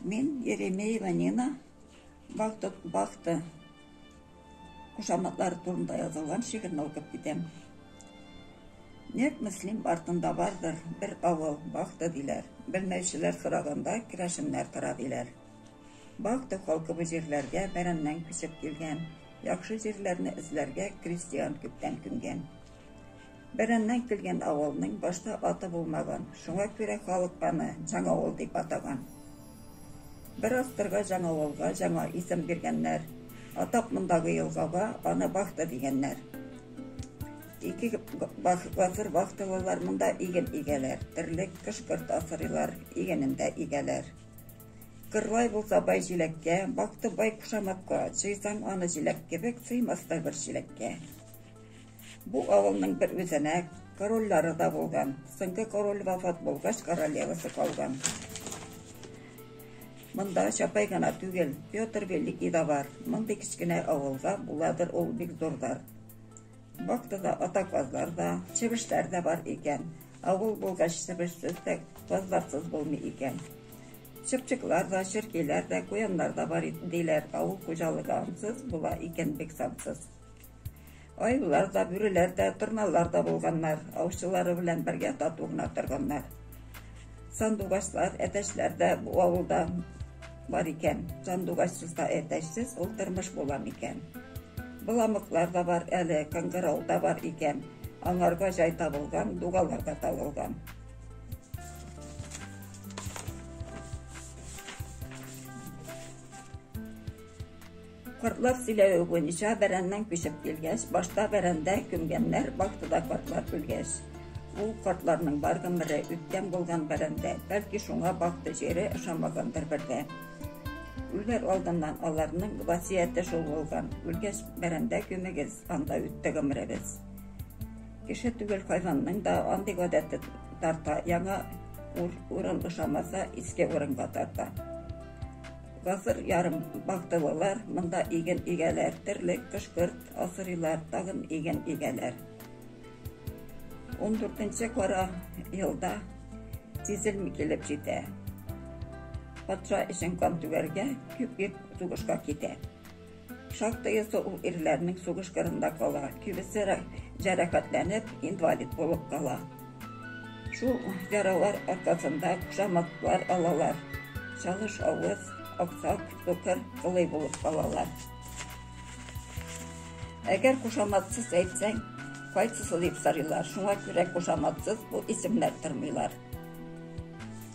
Мин Еремеева Нина, Бахта, Бахта кушаматлары турында язылган шигырьне укып китәм. Нәк Мөслим артында бардыр бер авыл Бахта диләр. Белмәүчеләр сораганда керәшеннәр тора диләр. Бахта халкы бу җирләргә бәрәннән күчеп килгән. Яхшы җирләрне эзләргә крестьян күптән күнгән. Бәрәннән килгән авылның башта аты булмаган, шуңа күрә халык аны Җаңавыл дип атаган. Бер авторга Җаңавылга җаңа исем биргәннәр, атап мондагы елгага аны Бахта дигәннәр. Ике гасыр бахтылылар монда иген игәләр, терлек, кышкырт асырыйлар, игенен дә игәләр. Кырлай булса бай җиләккә, бахты бай кушаматка, җыйсаң аны җиләк кебек, сыймас та бер чиләккә. Бу авылның бер үзәнәк корольлары да булган. Соңгы король вафат булгач, королевасы калган. Монда Чапай гына түгел, Петр Великий да бар. Мондый кечкенә авылга буладыр ул бик зурдар. Бактыда ата казлар да, чебешләр дә бар икән. Авыл булгач чебешсез дә, казларсыз булмый икән. Чыпчыклар да, черкиләр дә, куяннар да бар диләр. Авыл хуҗалыгы ансыз була икән бик сансыз. Аюлар да, бүреләр дә, торналар да булганнар. Аучылары белән бергә тату гына торганнар. Сандугачлар, әтәчләр дә бу авылда бар икән. Сандугачсыз да әтәчсез ул тормыш була микән? Боламыклар да бар әле, кыңгырау да бар икән. Аңарга җай табылган, дугалар да табылган. Картлар сөйләве буенча, бәрәннән күчеп килгәч, башта бәрәндә күмгәннәр, вахтада картлар үлгәч. Ул картларның бар гомере үткән булган бәрәндә, бәлки шуңа бахты җире ошамагандыр бер дә. Үләр алдыннан аларның васияте шул булган, үлгәч бәрәндә күмегез, анда үтте гомеребез. Кеше түгел хайванның да андый гадәте тарта, яңа урын ошамаса, иске урынга тарта. Гасыр ярым бактылылар, монда иген игәләр, терлек, кышкырт асырыйлар, тагын иген игәләр. 14 кара елда тизелми килеп җитә. Патша өчен кан түгәргә, күп-күп сугышка китә. Шактыйсы ул ирләрнең сугыш кырында кала, кибесе җәрәхәтләнеп, инвалид булып кала. Шул яралар аркасында кушаматлар алалар. Чалыш авыз, аксак, сукыр, кылый булып калалар. Әгәр кушаматсыз әйтсәң, кайсысы дип сорыйлар. Шуңа күрә кушаматсыз бу исемнәр тормыйлар.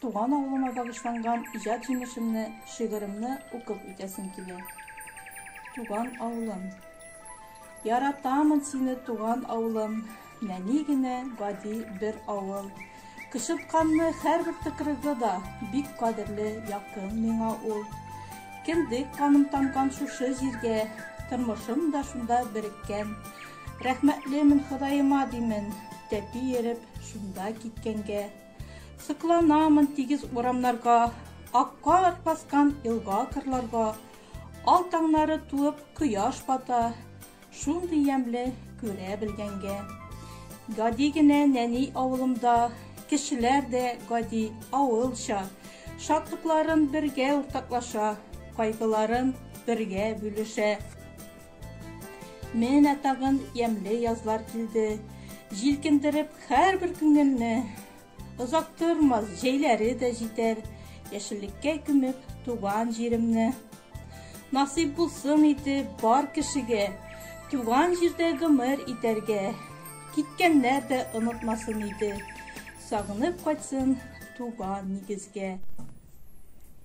Туган авылыма багышланган иҗат җимешемне, шигыремне укып үтәсем килә. Туган авылым. Яратамын сине, туган авылым, нәни генә гади бер авыл. Кычытканны һәрбер тыкрыгы да бик кадерле, якын миңа ул. Кендек каным тамган шушы җиргә, тормышым да шунда береккән. Рәхмәтлемен Ходаема димен, тәпи ереп шунда киткәнгә. Сокланамын тигез урамнарга, Акка баскан елга-кырларга, Ал таңнары туып, кояш бата, Шундый ямле күрә белгәнгә. Гади генә нәни авылымда, Кешеләр дә гади, авылча, Шатлыкларын бергә уртаклаша, Кайгыларын бергә бүлешә. Менә тагын ямле язлар килде. Җилкендереп һәрбер күңелне. Озак тормас, җәйләре дә җитәр. Яшеллеккә күмеп туган җиремне. Насыйп булсын иде бар кешегә. Туган җирдә гомер итәргә. Киткәннәр дә онытмасын иде. Сагынып кайтсын туган нигезгә.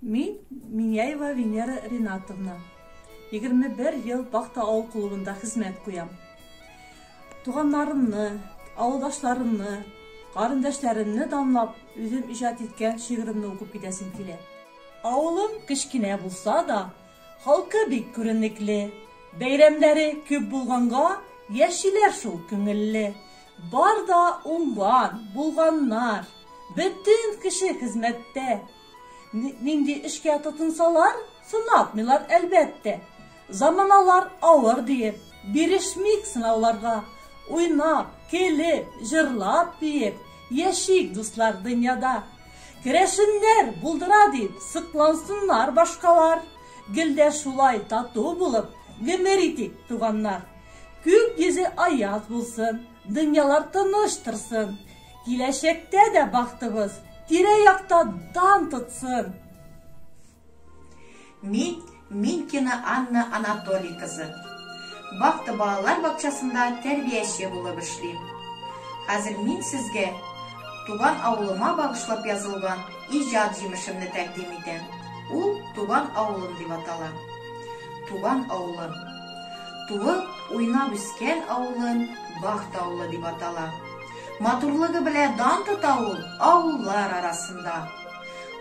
Мин Миняева Венера Ринатовна. 21 ел Бахта авыл клубында хезмәт куям. Туганнарымны, авылдашларымны, карындәшләремне данлап, үзем иҗат иткән шигыремне укып китәсем килә. Авылым кечкенә булса да, халкы бик күренекле. Бәйрәмнәре күп булганга, яшиләр шул күңелле. Бар да уңган, булганнар, бөтен кеше хезмәттә. Нинди эшкә тотынсалар, сынатмыйлар, әлбәттә. Заманалар авыр диеп, бирешмик сынауларга. Уйнап, көлеп, җырлап, биеп, яшик, дуслар, дөньяда. Керәшеннәр булдыра дип, сыклансыннар башкалар. Гел дә шулай тату булып, гомер итик, туганнар. Күк йөзе аяз булсын, дөньялар тыныч торсын, Киләчәктә дә бахтыбыз тирә-якта дан тотсын! Мин Минкина Анна Анатолий кызы. Бахта балалар бакчасында тәрбияче булып эшлим. Хәзер мин сезгә туган авылыма багышлап язылган иҗат җимешемне тәкъдим итәм. Ул Туган авылым дип атала. Туган авылым. Туып, уйнап үскән авылым Бахта авылы дип атала. Матурлыгы белә дан тота ул авыллар арасында.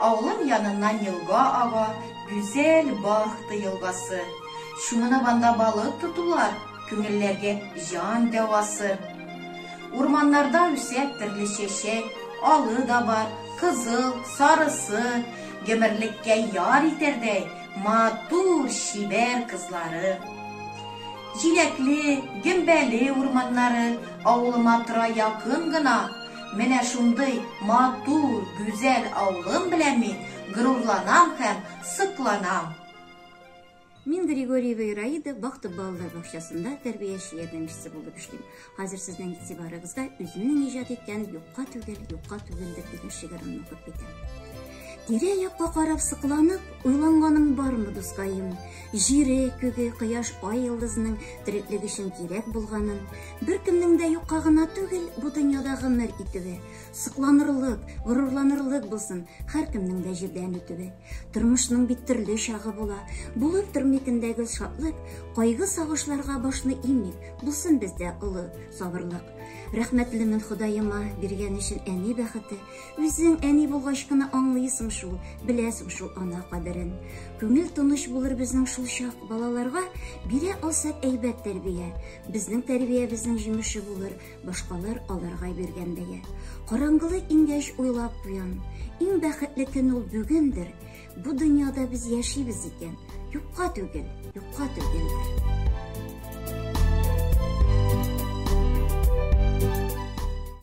Авылым яныннан елга ага, гүзәл Бахта елгасы. Чумынып анда балык тотулар, күңелләргә җан дәвасы. Урманнарда үсә төрле чәчәк, алы да бар, кызыл, сарысы, гомерлеккә яр итәрдәй матур, чибәр кызлары. Җиләкле, гөмбәле урманнары авылыма тора якын гына. Менә шундый матур, гүзәл авылым белән мин горурланам һәм сокланам. Мин Григорьева Ираида Бахты балалар бакчасында тәрбияче ярдәмчесе булып эшлим. Хәзер сезнең игътибарыгызга үземнең иҗат иткән Юкка түгел, юкка түгелдер дигән шигыремне укып китәм. Тирә-якка карап сыкланып, уйланганым бармы, дускаем? Җире, күге, кояш, ай йылдызының тереклек өчен кирәк булганын, беркемнең дә юкка гына түгел, бу дөньяда гомер итүе, сокланырлык, горурланырлык булсын, һәркемнең дә җирдән үтүе. Тормышның бит төрле чагы була. Булып тормитендәге шатлык, кайгы сагышларга башны имик, булсын бездә олы сабырлык. Рәхмәтлемен Ходаема биргән өчен әни бәхете. Үзең әни булгач кына аңлыйсың шул, беләсең шул ана кадерен. Күңел тыныч булыр безнең шул чак. Балаларга бирә алсак әйбәт тәрбия. Безнең тәрбиябезнең җимеше булыр. Башкалар аларга биргән бәя. Караңгылы иңгәч уйлап куям, иң бәхетле көн ул бүгендер. Бу дөньяда без яшибез икән, юкка түгел, юкка түгел.